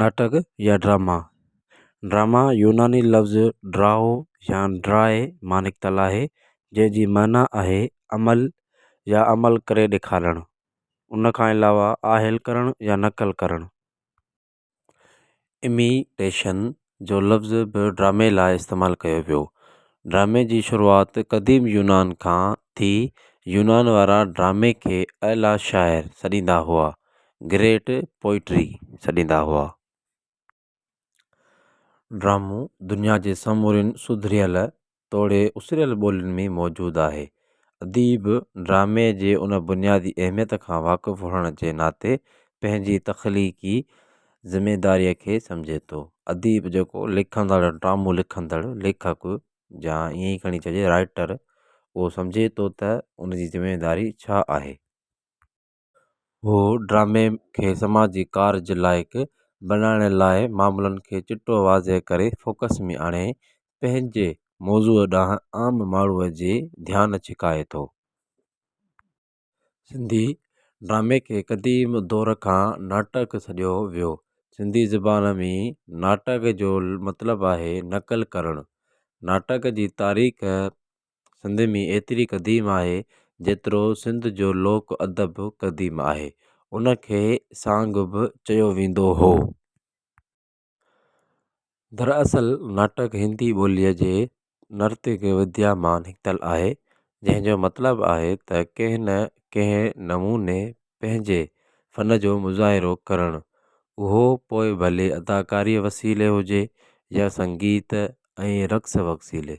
ناٽڪ يا drama, Drama، يوناني لفظ ڊرائو يا ڊرائي مان نڪتل آهي جنهن جي معنيٰ آهي عمل يا عمل ڪري ڏيکارڻ، ان کان علاوه آهل ڪرڻ يا نقل ڪرڻ. اميٽيشن، جو لفظ به ڊرامي لاء استعمال ڪيو ويو ڊرامي جي شروعات قديم يونان کان ٿي يونان وارا ڊرامي کي اعليٰ شاعر سڏيندا هئا گريٽ پوئٽري سڏيندا هئا ڊرامو دنيا جي سمورين سڌريل توڙي اسريل ٻولين ۾ موجود آهي. اديب ڊرامي جي ان بنيادي اهميت کان واقف هئڻ جي ناتي پنهنجي تخليقي ذميداريء کي سمجهي ٿو. اديب جيڪو لکندڙ، ڊرامو لکندڙ، ليکڪ يا ائين ئي کڻي چئجي رائيٽر اهو سمجهي ٿو ته ان جي ذميداري ڇا آهي. هو ڊرامي کي سماجي ڪارج لائق بنائڻ لاء معاملن کي چٽو واضح ڪري فوڪس ۾ آڻي پنهنجي موضوع ڏانهن عام ماڻهوء جي ڌيان ڇڪائي ٿو. سنڌي ڊرامي کي قديم دور کان ناٽڪ سڏيو ويو. سنڌي زبان ۾ ناٽڪ جو مطلب آهي نقل ڪرڻ. ناٽڪ جي تاريخ سنڌ ۾ ايتري قديم آهي جيترو سنڌ جو لوڪ ادب قديم آهي ان کي سانگ به چيو ويندو هو دراصل ناٽڪ هندي ٻوليء جي نرتڪ وديا مان نڪتل آهي جنهن جو مطلب آهي ته ڪنهن نه ڪنهن نموني پنهنجي فن جو مظاهرو ڪرڻ اهو پوء ڀلي اداڪاري وسيلي هجي يا سنگيت ۽ رقص وسيلي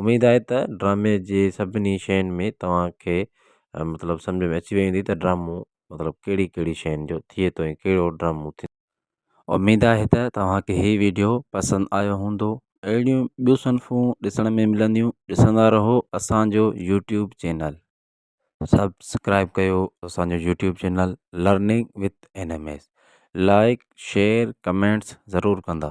اميد آهي ته ڊرامي جي سڀني شين ۾ توهانکي مطلب سمجهه ۾ اچي وئي هوندي ته ڊرامو مطلب ڪهڙي ڪهڙي شين جو ٿئي ٿو ۽ ڪهڙو ڊرامو ٿي اميد آهي ته توهانکي هي ويڊيو پسند آيو هوندو اهڙيون ٻيون صنفون ڏسڻ ۾ ملنديون ڏسندا رهو اسانجو يوٽيوب چينل. سبسڪرائب ڪيو اسانجو YouTube channel learning with N M S like share comments ضرور ڪندا.